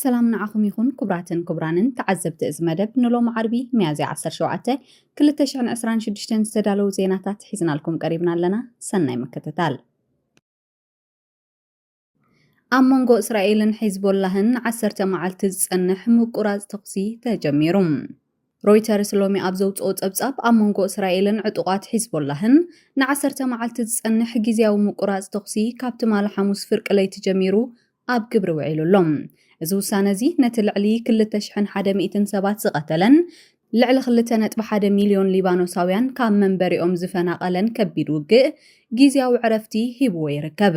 ሰላም ንዓኹም ይኹን ኩቡራትን ኩቡራንን ተዓዘብቲ እዚ መደብ ንሎሚ ዓርቢ ሚያዝያ ዓሰርተ ሸውዓተ ክልተ ሽሕን ዕስራን ሽዱሽተን ዝተዳለዉ ዜናታት ሒዝናልኩም ቀሪብና ኣለና ሰናይ ምክትታል ኣብ መንጎ እስራኤልን ሒዝቦላህን ንዓሰርተ መዓልቲ ዝጸንሕ ምቁራጽ ተኹሲ ተጀሚሩ ሮይተርስ ሎሚ ኣብ ዘውጽኦ ጸብጻብ፣ ኣብ መንጎ እስራኤልን ዕጡቓት ሒዝቦላህን ንዓሰርተ መዓልቲ ዝጸንሕ ግዝያዊ ምቁራጽ ተኹሲ ካብ ትማሊ ሓሙስ ፍርቂ ለይቲ ጀሚሩ ኣብ ግብሪ ውዒሉ ኣሎ። እዚ ውሳነ'ዚ ነቲ ልዕሊ ክልተ ሽሕን ሓደ ሚእትን ሰባት ዝቐተለን ልዕሊ ክልተ ነጥቢ ሓደ ሚልዮን ሊባኖሳውያን ካብ መንበሪኦም ዝፈናቐለን ከቢድ ውግእ ግዝያዊ ዕረፍቲ ሂብዎ ይርከብ።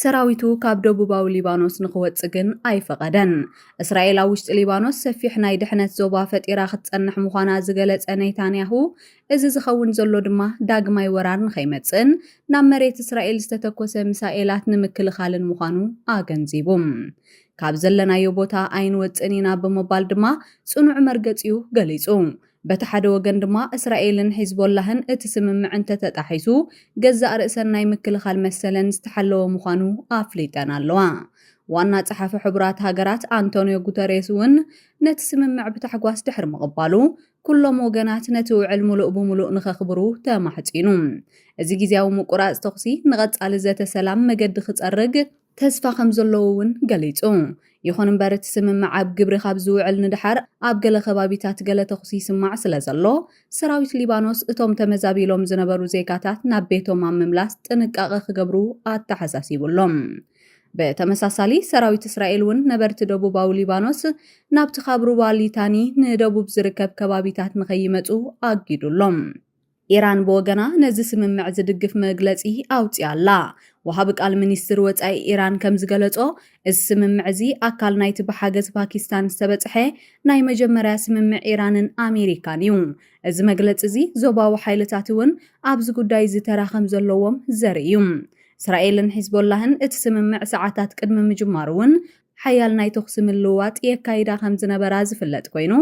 ሰራዊቱ ካብ ደቡባዊ ሊባኖስ ንኽወጽእ ግን ኣይፈቐደን። እስራኤል ኣብ ውሽጢ ሊባኖስ ሰፊሕ ናይ ድሕነት ዞባ ፈጢራ ክትጸንሕ ምዃና ዝገለጸ ኔታንያሁ፣ እዚ ዝኸውን ዘሎ ድማ ዳግማይ ወራር ንኸይመጽእን ናብ መሬት እስራኤል ዝተተኮሰ ሚሳኤላት ንምክልኻልን ምዃኑ ኣገንዚቡ። ካብ ዘለናዮ ቦታ ኣይንወጽእን ኢና ብምባል ድማ ጽኑዕ መርገጺኡ ገሊጹ። በቲ ሓደ ወገን ድማ እስራኤልን ሒዝቦላህን እቲ ስምምዕ እንተተጣሒሱ ገዛእ ርእሰን ናይ ምክልኻል መሰለን ዝተሓለወ ምዃኑ ኣፍሊጠን ኣለዋ። ዋና ጸሓፊ ሕቡራት ሃገራት ኣንቶንዮ ጉተሬስ እውን ነቲ ስምምዕ ብታሕጓስ ድሕሪ ምቕባሉ፣ ኩሎም ወገናት ነቲ ውዕል ምሉእ ብምሉእ ንኸኽብሩ ተማሕጺኑ። እዚ ግዝያዊ ምቁራጽ ተኹሲ ንቐጻሊ ዘተ ሰላም መገዲ ክጸርግ፣ ተስፋ ከም ዘለዎ እውን ገሊጹ። ይኹን እምበር እቲ ስምምዕ ኣብ ግብሪ ካብ ዝውዕል ንደሓር ኣብ ገለ ከባቢታት ገለ ተኹሲ ይስማዕ ስለ ዘሎ፣ ሰራዊት ሊባኖስ እቶም ተመዛቢሎም ዝነበሩ ዜጋታት ናብ ቤቶም ኣብ ምምላስ ጥንቃቐ ክገብሩ ኣተሓሳሲቡ ኣሎ። ብተመሳሳሊ ሰራዊት እስራኤል እውን ነበርቲ ደቡባዊ ሊባኖስ ናብቲ ካብ ሩባ ሊታኒ ንደቡብ ዝርከብ ከባቢታት ንከይመጹ ኣጊዱ ኣሎ። ኢራን ብወገና ነዚ ስምምዕ ዝድግፍ መግለጺ ኣውጺኣ ኣላ። ወሃቢ ቃል ሚኒስትሪ ወጻኢ ኢራን ከም ዝገለጾ፣ እዚ ስምምዕ እዚ ኣካል ናይቲ ብሓገዝ ፓኪስታን ዝተበጽሐ ናይ መጀመርያ ስምምዕ ኢራንን ኣሜሪካን እዩ። እዚ መግለጺ እዚ ዞባዊ ሓይልታት እውን ኣብዚ ጉዳይ እዚ ተራ ከም ዘለዎም ዘርኢ እዩ። እስራኤልን ሒዝቦላህን እቲ ስምምዕ ሰዓታት ቅድሚ ምጅማሩ እውን ሓያል ናይ ተኹሲ ምልውዋጥ የካይዳ ከም ዝነበራ ዝፍለጥ ኮይኑ፣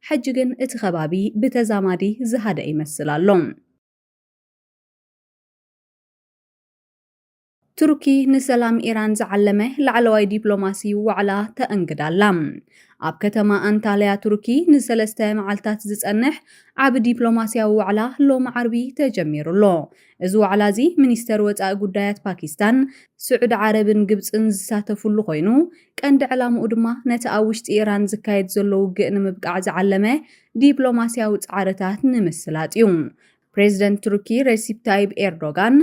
ሕጂ ግን እቲ ከባቢ ብተዛማዲ ዝሃደኣ ይመስል ኣሎ። ቱርኪ ንሰላም ኢራን ዝዓለመ ላዕለዋይ ዲፕሎማሲ ዋዕላ ተእንግድ ኣላ። ኣብ ከተማ ኣንታልያ ቱርኪ ንሰለስተ መዓልታት ዝጸንሕ ዓቢ ዲፕሎማስያዊ ዋዕላ ሎሚ ዓርቢ ተጀሚሩ ኣሎ። እዚ ዋዕላ እዚ ሚኒስተር ወጻኢ ጉዳያት ፓኪስታን፣ ስዑዲ ዓረብን ግብጽን ዝሳተፍሉ ኮይኑ፣ ቀንዲ ዕላምኡ ድማ ነቲ ኣብ ውሽጢ ኢራን ዝካየድ ዘሎ ውግእ ንምብቃዕ ዝዓለመ ዲፕሎማስያዊ ጻዕርታት ንምስላጥ እዩ። ፕሬዝደንት ቱርኪ ሬሲፕ ታይብ ኤርዶጋን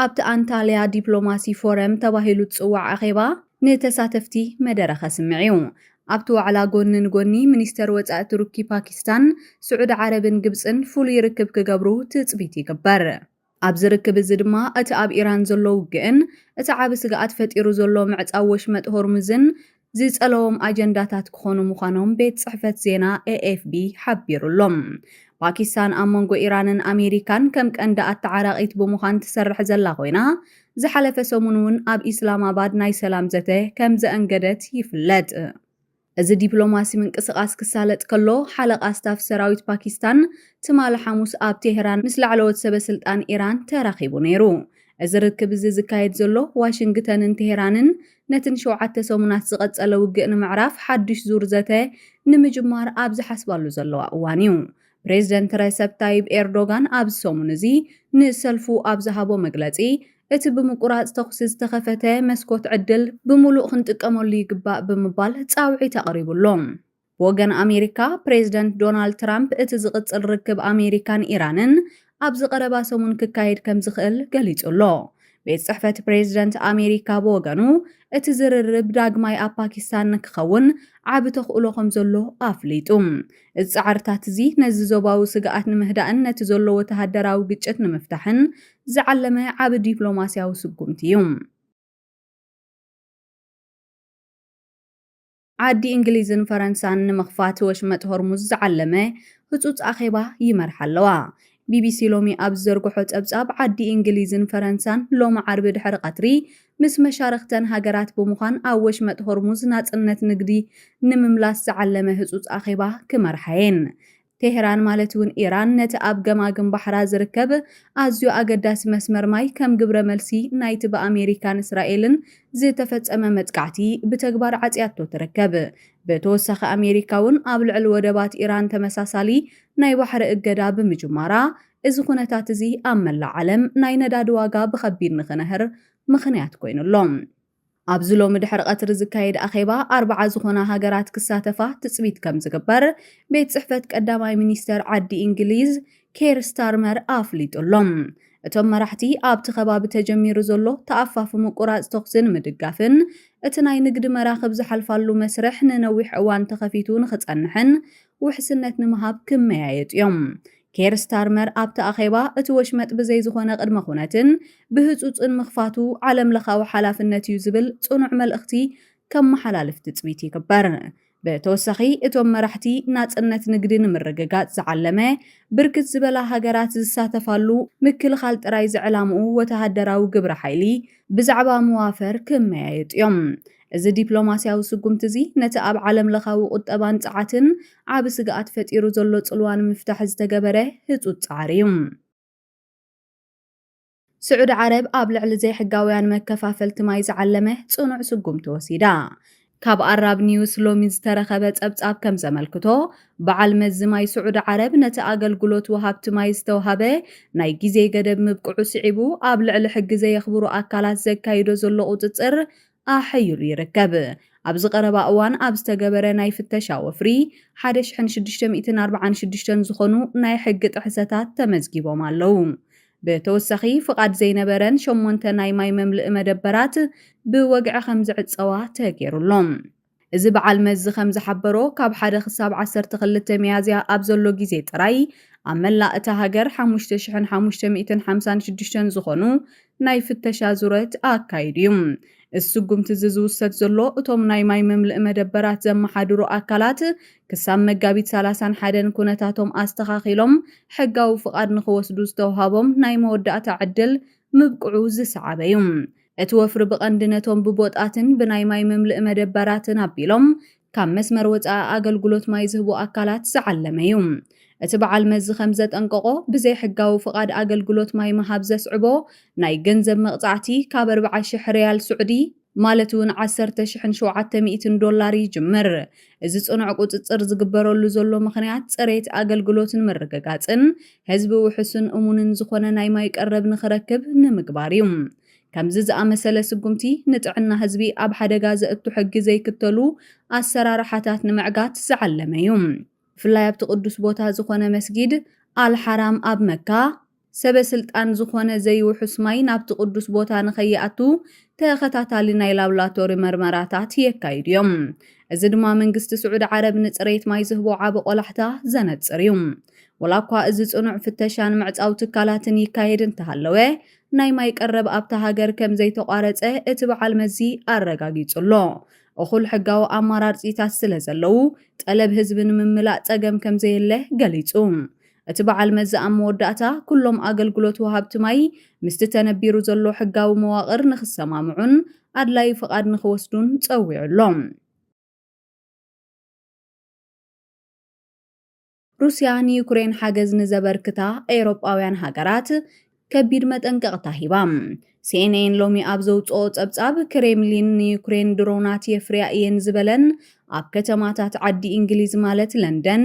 ኣብቲ ኣንታልያ ዲፕሎማሲ ፎረም ተባሂሉ ዝጽዋዕ ኣኼባ ንተሳተፍቲ መደረ ከስምዕ እዩ። ኣብቲ ዋዕላ ጎኒ ንጎኒ ሚኒስተር ወጻኢ ቱርኪ፣ ፓኪስታን፣ ስዑዲ ዓረብን ግብጽን ፍሉይ ርክብ ክገብሩ ትጽቢት ይግበር። ኣብዚ ርክብ እዚ ድማ እቲ ኣብ ኢራን ዘሎ ውግእን እቲ ዓቢ ስግኣት ፈጢሩ ዘሎ ምዕጻው ወሽመጥ ሆርሙዝን ዝጸለዎም ኣጀንዳታት ክኾኑ ምዃኖም ቤት ጽሕፈት ዜና ኤኤፍቢ ሓቢሩ ኣሎ። ፓኪስታን ኣብ መንጎ ኢራንን ኣሜሪካን ከም ቀንዲ ኣተዓራቒት ብምዃን ትሰርሕ ዘላ ኮይና፣ ዝሓለፈ ሰሙን'ውን ኣብ ኢስላማባድ ናይ ሰላም ዘተ ከም ዘእንገደት ይፍለጥ። እዚ ዲፕሎማሲ ምንቅስቓስ ክሳለጥ ከሎ፣ ሓለቓ ስታፍ ሰራዊት ፓኪስታን ትማሊ ሓሙስ ኣብ ቴህራን ምስ ላዕለዎት ሰበስልጣን ኢራን ተራኺቡ ነይሩ። እዚ ርክብ እዚ ዝካየድ ዘሎ፣ ዋሽንግተንን ቴህራንን ነቲ ንሸውዓተ ሰሙናት ዝቐጸለ ውግእ ንምዕራፍ ሓድሽ ዙር ዘተ ንምጅማር ኣብ ዝሓስባሉ ዘለዋ እዋን'ዩ። ፕሬዝደንት ረሰፕ ታይብ ኤርዶጋን ኣብዚ ሰሙን እዚ ንሰልፉ ኣብ ዝሃቦ መግለጺ፣ እቲ ብምቁራጽ ተኹሲ ዝተኸፈተ መስኮት ዕድል ብምሉእ ክንጥቀመሉ ይግባእ ብምባል ጻውዒት ኣቕሪቡ ኣሎ። ብወገን ኣሜሪካ፣ ፕሬዝደንት ዶናልድ ትራምፕ እቲ ዝቕጽል ርክብ ኣሜሪካን ኢራንን ኣብዚ ቀረባ ሰሙን ክካየድ ከም ዝኽእል ገሊጹ ኣሎ። ቤት ጽሕፈት ፕሬዝደንት ኣሜሪካ ብወገኑ፣ እቲ ዝርርብ ዳግማይ ኣብ ፓኪስታን ንክኸውን ዓቢ ተኽእሎ ከም ዘሎ ኣፍሊጡ። እዚ ጻዕርታት'ዚ ነዚ ዞባዊ ስግኣት ንምህዳእን ነቲ ዘሎ ወተሃደራዊ ግጭት ንምፍታሕን ዝዓለመ ዓቢ ዲፕሎማስያዊ ስጉምቲ እዩ። ዓዲ እንግሊዝን ፈረንሳን ንምኽፋት ወሽመጥ ሆርሙዝ ዝዓለመ ህጹጽ ኣኼባ ይመርሓ ኣለዋ። ቢቢሲ ሎሚ ኣብ ዝዘርግሖ ጸብጻብ፣ ዓዲ እንግሊዝን ፈረንሳን ሎሚ ዓርቢ ድሕሪ ቀትሪ ምስ መሻርኽተን ሃገራት ብምዃን ኣብ ወሽመጥ ሆርሙዝ ናጽነት ንግዲ ንምምላስ ዝዓለመ ህጹጽ ኣኼባ ክመርሓ'የን። ቴህራን ማለት'ውን ኢራን ነቲ ኣብ ገማግም ባሕራ ዝርከብ ኣዝዩ ኣገዳሲ መስመር ማይ ከም ግብረ መልሲ ናይቲ ብኣሜሪካን እስራኤልን ዝተፈጸመ መጥቃዕቲ ብተግባር ዓጽያቶ ትርከብ። ብተወሳኺ ኣሜሪካ'ውን ኣብ ልዕሊ ወደባት ኢራን ተመሳሳሊ ናይ ባሕሪ እገዳ ብምጅማራ እዚ ኩነታት'ዚ ኣብ መላእ ዓለም ናይ ነዳዲ ዋጋ ብኸቢድ ንኽነህር ምኽንያት ኮይኑ ኣሎ። ኣብዚ ሎሚ ድሕሪ ቀትሪ ዝካየድ ኣኼባ ኣርብዓ ዝኾና ሃገራት ክሳተፋ ትፅቢት ከምዝግበር ቤት ፅሕፈት ቀዳማይ ሚኒስተር ዓዲ እንግሊዝ ኬር ስታርመር ኣፍሊጡ ኣሎ። እቶም መራሕቲ ኣብቲ ከባቢ ተጀሚሩ ዘሎ ተኣፋፊ ምቁራፅ ተኹሲ ንምድጋፍን እቲ ናይ ንግዲ መራኽብ ዝሓልፋሉ መስርሕ ንነዊሕ እዋን ተኸፊቱ ንኽፀንሕን ውሕስነት ንምሃብ ክመያየጡ እዮም ኬር ስታርመር ኣብቲ ኣኼባ፣ እቲ ወሽመጥ ብዘይ ዝኾነ ቅድመ ኩነትን ብህጹጽን ምኽፋቱ ዓለምለኻዊ ሓላፍነት እዩ ዝብል ጽኑዕ መልእኽቲ ከመሓላልፍ ትጽቢት ይግበር። ብተወሳኺ እቶም መራሕቲ፣ ናጽነት ንግዲ ንምርግጋጽ ዝዓለመ ብርክት ዝበላ ሃገራት ዝሳተፋሉ ምክልኻል ጥራይ ዝዕላምኡ ወተሃደራዊ ግብረ ሓይሊ ብዛዕባ መዋፈር ክመያየጡ እዮም። እዚ ዲፕሎማስያዊ ስጉምቲ'ዚ፣ ነቲ ኣብ ዓለምለኻዊ ቁጠባን ጸዓትን ዓቢ ስግኣት ፈጢሩ ዘሎ ጽልዋ ንምፍታሕ ዝተገበረ ህጹጽ ጻዕሪ'ዩ። ስዑዲ ዓረብ፣ ኣብ ልዕሊ ዘይሕጋውያን መከፋፈልቲ ማይ ዝዓለመ ጽኑዕ ስጉምቲ ወሲዳ። ካብ ኣራብ ኒውስ ሎሚ ዝተረኸበ ጸብጻብ ከም ዘመልክቶ፣ በዓል መዚ ማይ ስዑዲ ዓረብ፣ ነቲ ኣገልግሎት ወሃብቲ ማይ ዝተውሃበ ናይ ግዜ ገደብ ምብቅዑ ስዒቡ፣ ኣብ ልዕሊ ሕጊ ዘየኽብሩ ኣካላት ዘካይዶ ዘሎ ቁጽጽር ኣሕ ኢሉ ይርከብ። ኣብዚ ቀረባ እዋን ኣብ ዝተገበረ ናይ ፍተሻ ወፍሪ፣ ሓደ ሽሕን ሽዱሽተ ሚእትን ኣርብዓን ሽዱሽተን ዝኾኑ ናይ ሕጊ ጥሕሰታት ተመዝጊቦም ኣለዉ። ብተወሳኺ ፍቓድ ዘይነበረን ሸሞንተ ናይ ማይ መምልኢ መደበራት ብወግዒ ከምዝዕጸዋ ተገይሩ'ሎ። እዚ በዓል መዚ ከም ዝሓበሮ፣ ካብ ሓደ ክሳብ ዓሰርተ ክልተ ሚያዝያ ኣብ ዘሎ ግዜ ጥራይ፣ ኣብ መላእ እታ ሃገር ሓሙሽተ ሽሕን ሓሙሽተ ሚእትን ሓምሳን ሽዱሽተን ዝኾኑ ናይ ፍተሻ ዙረት ኣካይዱ እዩ። እዚ ስጉምቲ እዚ ዝውሰድ ዘሎ፣ እቶም ናይ ማይ መምልኢ መደበራት ዘመሓድሩ ኣካላት፣ ክሳብ መጋቢት ሰላሳን ሓደን ኩነታቶም ኣስተኻኺሎም ሕጋዊ ፍቓድ ንኽወስዱ ዝተውሃቦም ናይ መወዳእታ ዕድል ምብቅዑ ዝሰዓበ እዩ። እቲ ወፍሪ ብቐንዲ ነቶም ብቦጣትን ብናይ ማይ መምልኢ መደበራትን ኣቢሎም ካብ መስመር ወጻኢ ኣገልግሎት ማይ ዝህቡ ኣካላት ዝዓለመ እዩ። እቲ በዓል መዚ ከም ዘጠንቀቖ፣ ብዘይሕጋዊ ፍቓድ ኣገልግሎት ማይ ምሃብ ዘስዕቦ ናይ ገንዘብ መቕጻዕቲ ካብ ኣርብዓ ሽሕ ሪያል ስዑዲ፣ ማለት እውን ዓሰርተ ሽሕን ሸውዓተ ሚእትን ዶላር፣ ይጅምር። እዚ ጽኑዕ ቁጽጽር ዝግበረሉ ዘሎ ምኽንያት፣ ጽሬት ኣገልግሎት ንምርግጋጽን ህዝቢ ውሑስን እሙንን ዝኾነ ናይ ማይ ቀረብ ንኽረክብ ንምግባር እዩ። ከምዚ ዝኣመሰለ ስጉምቲ ንጥዕና ህዝቢ ኣብ ሓደጋ ዘእቱ ሕጊ ዘይክተሉ ኣሰራርሓታት ንምዕጋት ዝዓለመ እዩ። ብፍላይ ኣብቲ ቅዱስ ቦታ ዝኾነ መስጊድ ኣል ሓራም ኣብ መካ፣ ሰበ ስልጣን ዝኾነ ዘይውሑስ ማይ ናብቲ ቅዱስ ቦታ ንኸይኣቱ ተኸታታሊ ናይ ላብላቶሪ መርመራታት የካይዱ እዮም። እዚ ድማ መንግስቲ ስዑዲ ዓረብ ንጽሬት ማይ ዝህቦ ዓቢ ቆላሕታ ዘነጽር እዩ። ወላ እኳ እዚ ጽኑዕ ፍተሻን ምዕጻው ትካላትን ይካየድ እንተሃለወ፣ ናይ ማይ ቀረብ ኣብታ ሃገር ከም ዘይተቋረጸ እቲ በዓል መዚ ኣረጋጊጹ ኣሎ። እኹል ሕጋዊ ኣማራርጺታት ስለ ዘለዉ፣ ጠለብ ህዝቢ ንምምላእ ጸገም ከም ዘየለ ገሊጹ። እቲ በዓል መዚ ኣብ መወዳእታ፣ ኩሎም ኣገልግሎት ወሃብቲ ማይ ምስቲ ተነቢሩ ዘሎ ሕጋዊ መዋቕር ንኽሰማምዑን ኣድላዪ ፍቓድ ንኽወስዱን ጸዊዑ ኣሎ። ሩስያ ንዩክሬን ሓገዝ ንዘበርክታ ኤውሮጳውያን ሃገራት፣ ከቢድ መጠንቀቕታ ሂባ። ሲኤንኤን ሎሚ ኣብ ዘውጽኦ ጸብጻብ፣ ክሬምሊን ንዩክሬን ድሮናት የፍርያ እየን ዝበለን ኣብ ከተማታት ዓዲ እንግሊዝ ማለት ለንደን፣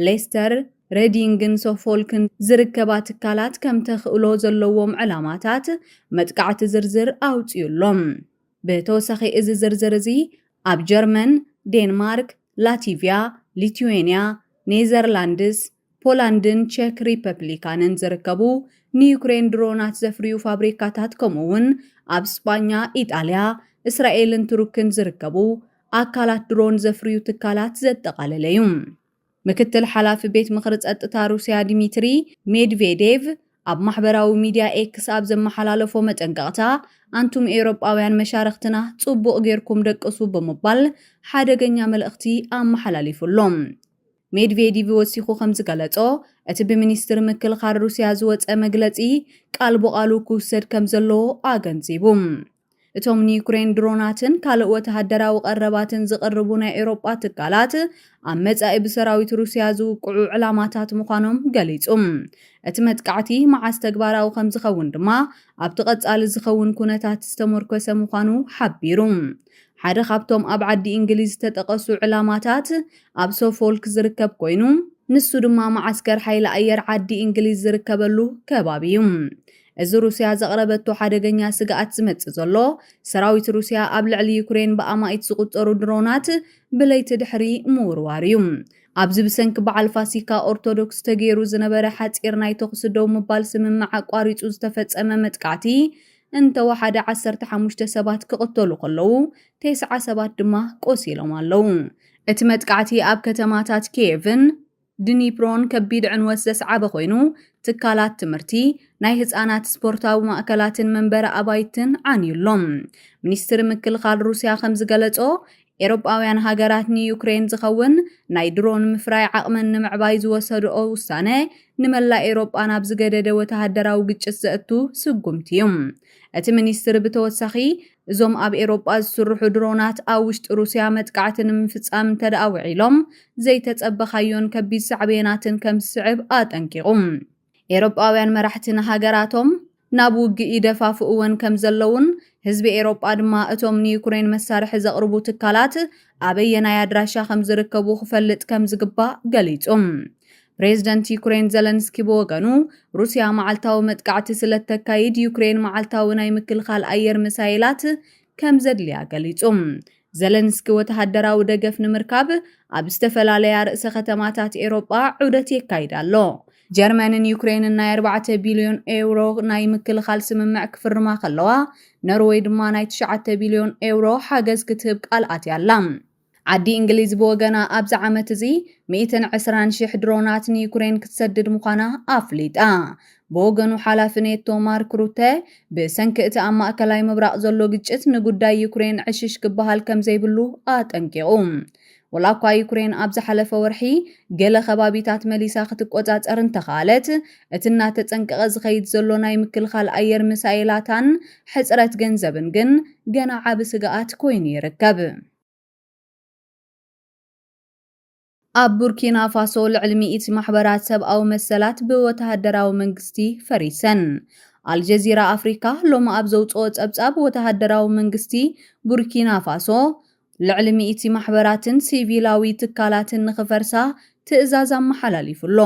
ሌስተር፣ ሬዲንግን ሶፎልክን ዝርከባ ትካላት ከም ተኽእሎ ዘለዎም ዕላማታት መጥቃዕቲ ዝርዝር ኣውጺኡ ኣሎ። ብተወሳኺ እዚ ዝርዝር እዚ ኣብ ጀርመን፣ ዴንማርክ፣ ላቲቭያ፣ ሊትዌንያ፣ ኔዘርላንድስ፣ ፖላንድን ቸክ ሪፐብሊካንን ዝርከቡ ንዩክሬን ድሮናት ዘፍርዩ ፋብሪካታት ከምኡ'ውን ኣብ ስጳኛ፣ ኢጣልያ፣ እስራኤልን ቱርክን ዝርከቡ ኣካላት ድሮን ዘፍርዩ ትካላት ዘጠቓለለ እዩ። ምክትል ሓላፊ ቤት ምኽሪ ጸጥታ ሩስያ ዲሚትሪ ሜድቬዴቭ ኣብ ማሕበራዊ ሚድያ ኤክስ ኣብ ዘመሓላለፎ መጠንቀቕታ ኣንቱም ኤውሮጳውያን መሻርኽትና ጽቡቕ ጌርኩም ደቅሱ ብምባል ሓደገኛ መልእኽቲ ኣመሓላሊፉ'ሎ። ሜድቬዲቭ ወሲኹ ከምዝገለጾ፣ እቲ ብሚኒስትሪ ምክልኻል ሩስያ ዝወጸ መግለጺ ቃል ብቓሉ ክውሰድ ከምዘለዎ ኣገንዚቡ። እቶም ንዩክሬን ድሮናትን ካልእ ወተሃደራዊ ቀረባትን ዝቕርቡ ናይ ኤውሮጳ ትካላት፣ ኣብ መጻኢ ብሰራዊት ሩስያ ዝውቅዑ ዕላማታት ምዃኖም ገሊጹ። እቲ መጥቃዕቲ መዓስ ተግባራዊ ከምዝኸውን ድማ ኣብቲ ቀጻሊ ዝኸውን ኩነታት ዝተሞርኮሰ ምዃኑ ሓቢሩ። ሓደ ካብቶም ኣብ ዓዲ እንግሊዝ ዝተጠቐሱ ዕላማታት፣ ኣብ ሶፎልክ ዝርከብ ኮይኑ ንሱ ድማ መዓስከር ሓይሊ ኣየር ዓዲ እንግሊዝ ዝርከበሉ ከባቢ እዩ። እዚ ሩስያ ዘቕረበቶ ሓደገኛ ስግኣት ዝመጽእ ዘሎ፣ ሰራዊት ሩስያ ኣብ ልዕሊ ዩክሬን ብኣማኢት ዝቑጸሩ ድሮናት ብለይቲ ድሕሪ ምውርዋር እዩ። ኣብዚ ብሰንኪ በዓል ፋሲካ ኦርቶዶክስ ተገይሩ ዝነበረ ሓጺር ናይ ተኹሲ ደው ምባል ስምምዕ ኣቋሪጹ ዝተፈጸመ መጥቃዕቲ እንተወሓደ ዓሰርተ ሓሙሽተ ሰባት ክቕተሉ ከለዉ፣ ቴስዓ ሰባት ድማ ቆሲሎም ኣለዉ። እቲ መጥቃዕቲ ኣብ ከተማታት ኪየቭን ድኒፕሮን ከቢድ ዕንወት ዘስዓበ ኮይኑ፣ ትካላት ትምህርቲ፣ ናይ ህጻናት ስፖርታዊ ማእከላትን መንበሪ ኣባይትን ዓንዩ ኣሎ። ሚኒስትሪ ምክልኻል ሩስያ ከም ዝገለጾ፣ ኤውሮጳውያን ሃገራት ንዩክረይን ዝኸውን ናይ ድሮን ምፍራይ ዓቕመን ንምዕባይ ዝወሰድኦ ውሳነ ንመላእ ኤውሮጳ ናብ ዝገደደ ወተሃደራዊ ግጭት ዘእቱ ስጉምቲ እዩ። እቲ ሚኒስትሪ ብተወሳኺ፣ እዞም ኣብ ኤሮጳ ዝስርሑ ድሮናት ኣብ ውሽጢ ሩስያ መጥቃዕቲ ንምፍጻም እንተድኣ ውዒሎም ዘይተጸበኻዮን ከቢድ ሳዕቤናትን ከም ዝስዕብ ኣጠንቂቑ። ኤሮጳውያን መራሕቲ ንሃገራቶም ናብ ውግእ ይደፋፍእወን ከም ዘለዉን ህዝቢ ኤሮጳ ድማ እቶም ንዩክሬን መሳርሒ ዘቕርቡ ትካላት ኣበየናይ ኣድራሻ ከም ዝርከቡ ክፈልጥ ከም ዝግባእ ገሊጹ። ፕሬዝደንት ዩክሬን ዘለንስኪ ብወገኑ፣ ሩስያ መዓልታዊ መጥቃዕቲ ስለእተካይድ ዩክሬን መዓልታዊ ናይ ምክልኻል ኣየር ሚሳይላት ከምዘድልያ ገሊጹ። ዘለንስኪ ወተሃደራዊ ደገፍ ንምርካብ ኣብ ዝተፈላለያ ርእሰ ከተማታት ኤውሮጳ ዑደት የካይድ ኣሎ። ጀርመንን ዩክሬንን ናይ ኣርባዕተ ቢልዮን ኤውሮ ናይ ምክልኻል ስምምዕ ክፍርማ ከለዋ፣ ኖርወይ ድማ ናይ ትሽዓተ ቢልዮን ኤውሮ ሓገዝ ክትህብ ቃል ኣትያ ኣላ። ዓዲ እንግሊዝ ብወገና ኣብዚ ዓመት እዚ ሚእትን ዕስራን ሽሕ ድሮናት ንዩክሬን ክትሰድድ ምዃና ኣፍሊጣ። ብወገኑ ሓላፊ ኔቶ ማርክ ሩተ ብሰንኪ እቲ ኣብ ማእከላይ ምብራቕ ዘሎ ግጭት ንጉዳይ ዩክሬን ዕሽሽ ክበሃል ከምዘይብሉ ኣጠንቂቑ። ወላ እኳ ዩክሬን ኣብ ዝሓለፈ ወርሒ ገለ ከባቢታት መሊሳ ክትቆጻጸር እንተኸኣለት፣ እቲ እናተጸንቀቐ ዝኸይድ ዘሎ ናይ ምክልኻል ኣየር ሚሳኤላታን ሕጽረት ገንዘብን ግን ገና ዓቢ ስግኣት ኮይኑ ይርከብ። ኣብ ቡርኪናፋሶ ልዕሊ ሚእቲ ማሕበራት ሰብኣዊ መሰላት ብወተሃደራዊ መንግስቲ ፈሪሰን። ኣልጀዚራ ኣፍሪካ ሎሚ ኣብ ዘውጽኦ ጸብጻብ ወተሃደራዊ መንግስቲ ቡርኪናፋሶ ልዕሊ ሚእቲ ማሕበራትን ሲቪላዊ ትካላትን ንኽፈርሳ ትእዛዝ ኣመሓላሊፉ ኣሎ።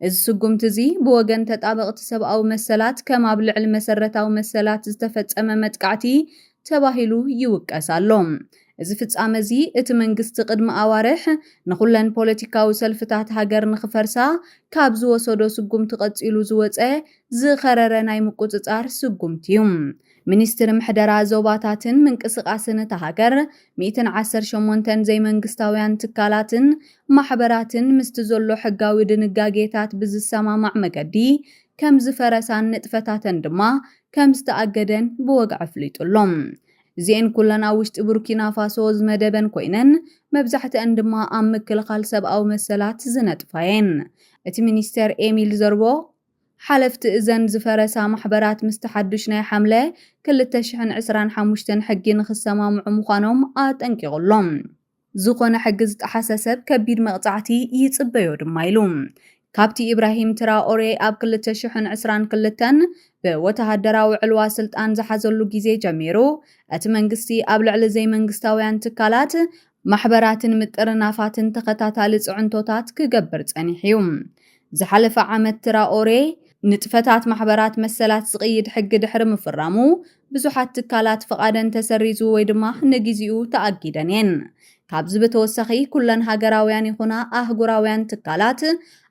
እዚ ስጉምቲ እዚ ብወገን ተጣበቕቲ ሰብኣዊ መሰላት ከም ኣብ ልዕሊ መሰረታዊ መሰላት ዝተፈጸመ መጥቃዕቲ ተባሂሉ ይውቀስ ኣሎ። እዚ ፍጻመ እዚ እቲ መንግስቲ ቅድሚ ኣዋርሕ ንኹለን ፖለቲካዊ ሰልፍታት ሃገር ንኽፈርሳ ካብ ዝወሰዶ ስጉምቲ ቀጺሉ ዝወጸ ዝኸረረ ናይ ምቁጽጻር ስጉምቲ እዩ። ሚኒስትሪ ምሕደራ ዞባታትን ምንቅስቓስን እታ ሃገር፣ ሚእትን ዓሰርተ ሸሞንተን ዘይመንግስታውያን ትካላትን ማሕበራትን ምስቲ ዘሎ ሕጋዊ ድንጋጌታት ብዝሰማማዕ መገዲ ከም ዝፈረሳን ንጥፈታተን ድማ ከም ዝተኣገደን ብወግዒ ኣፍሊጡ ኣሎ። እዚኤን ኩለን ኣብ ውሽጢ ቡርኪናፋሶ ዝመደበን ኮይነን፣ መብዛሕትኣን ድማ ኣብ ምክልኻል ሰብኣዊ መሰላት ዝነጥፋ'የን። እቲ ሚኒስተር ኤሚል ዘርቦ፣ ሓለፍቲ እዘን ዝፈረሳ ማሕበራት ምስቲ ሓዱሽ ናይ ሓምለ ክልተ ሽሕን ዕስራን ሓሙሽተን ሕጊ ንኽሰማምዑ ምዃኖም ኣጠንቂቑ ኣሎ። ዝኾነ ሕጊ ዝጠሓሰ ሰብ ከቢድ መቕጻዕቲ ይጽበዮ ድማ ኢሉ። ካብቲ ኢብራሂም ትራኦሬ ኣብ ክልተ ሽሕን ዕስራን ክልተን ብወተሃደራዊ ዕልዋ ስልጣን ዝሓዘሉ ግዜ ጀሚሩ፣ እቲ መንግስቲ ኣብ ልዕሊ ዘይመንግስታውያን ትካላት ማሕበራትን ምጥርናፋትን ተኸታታሊ ጽዕንቶታት ክገብር ጸኒሑ'ዩ። ዝሓለፈ ዓመት ትራኦሬ ንጥፈታት ማሕበራት መሰላት ዝቕይድ ሕጊ ድሕሪ ምፍራሙ፣ ብዙሓት ትካላት ፍቓደን ተሰሪዙ ወይ ድማ ንጊዚኡ ተኣጊደን'የን። ካብዚ ብተወሳኺ ኩለን ሃገራውያን ይኹና ኣህጉራውያን ትካላት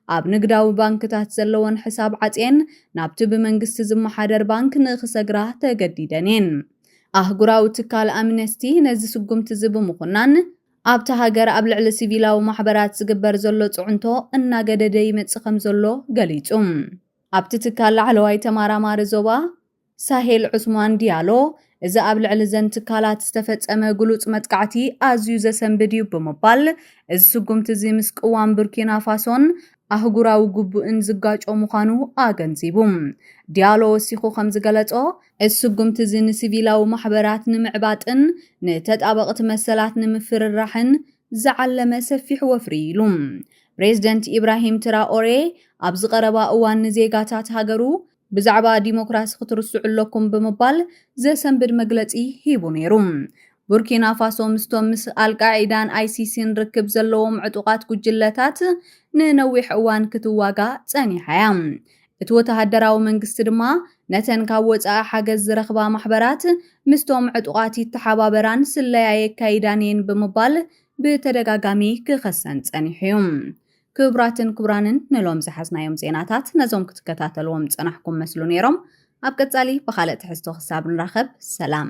ኣብ ንግዳዊ ባንክታት ዘለወን ሕሳብ ዓጽየን ናብቲ ብመንግስቲ ዝመሓደር ባንክ ንኽሰግራ ተገዲደን'የን። ኣህጉራዊ ትካል ኣምነስቲ ነዚ ስጉምቲ'ዚ ብምኹናን፣ ኣብታ ሃገር ኣብ ልዕሊ ሲቪላዊ ማሕበራት ዝግበር ዘሎ ጽዕንቶ እናገደደ ይመጽእ ከምዘሎ ገሊጹ። ኣብቲ ትካል ላዕለዋይ ተማራማሪ ዞባ ሳሄል ዑስማን ዲያሎ፣ እዚ ኣብ ልዕሊ'ዘን ትካላት ዝተፈጸመ ግሉጽ መጥቃዕቲ ኣዝዩ ዘሰንብድ እዩ ብምባል፣ እዚ ስጉምቲ'ዚ ምስ ቅዋም ቡርኪናፋሶን ኣህጉራዊ ግቡእን ዝጋጮ ምዃኑ ኣገንዚቡ። ዲያሎ ወሲኹ ከምዝገለጾ፣ እዚ ስጉምቲ እዚ ንሲቪላዊ ማሕበራት ንምዕባጥን ንተጣበቕቲ መሰላት ንምፍርራሕን ዝዓለመ ሰፊሕ ወፍሪ እዩ ኢሉ። ፕሬዝደንት ኢብራሂም ትራኦሬ ኣብዚ ቀረባ እዋን ንዜጋታት ሃገሩ ብዛዕባ ዲሞክራሲ ክትርስዑ ኣለኩም ብምባል ዘሰንብድ መግለጺ ሂቡ ነይሩ። ቡርኪናፋሶ ምስቶም ምስ ኣልቃዒዳን ኣይሲሲን ርክብ ዘለዎም ዕጡቓት ጉጅለታት ንነዊሕ እዋን ክትዋጋእ ጸኒሓ እያ። እቲ ወተሃደራዊ መንግስቲ ድማ ነተን ካብ ወጻኢ ሓገዝ ዝረኽባ ማሕበራት ምስቶም ዕጡቓት ይተሓባበራን ስለያ የካይዳን እየን ብምባል ብተደጋጋሚ ክኸሰን ጸኒሑ እዩ። ክብራትን ክቡራንን ንሎም ዝሓዝናዮም ዜናታት ነዞም ክትከታተልዎም ዝጸናሕኩም መስሉ ነይሮም። ኣብ ቀጻሊ ብኻልእ ትሕዝቶ ክሳብ ንራኸብ ሰላም።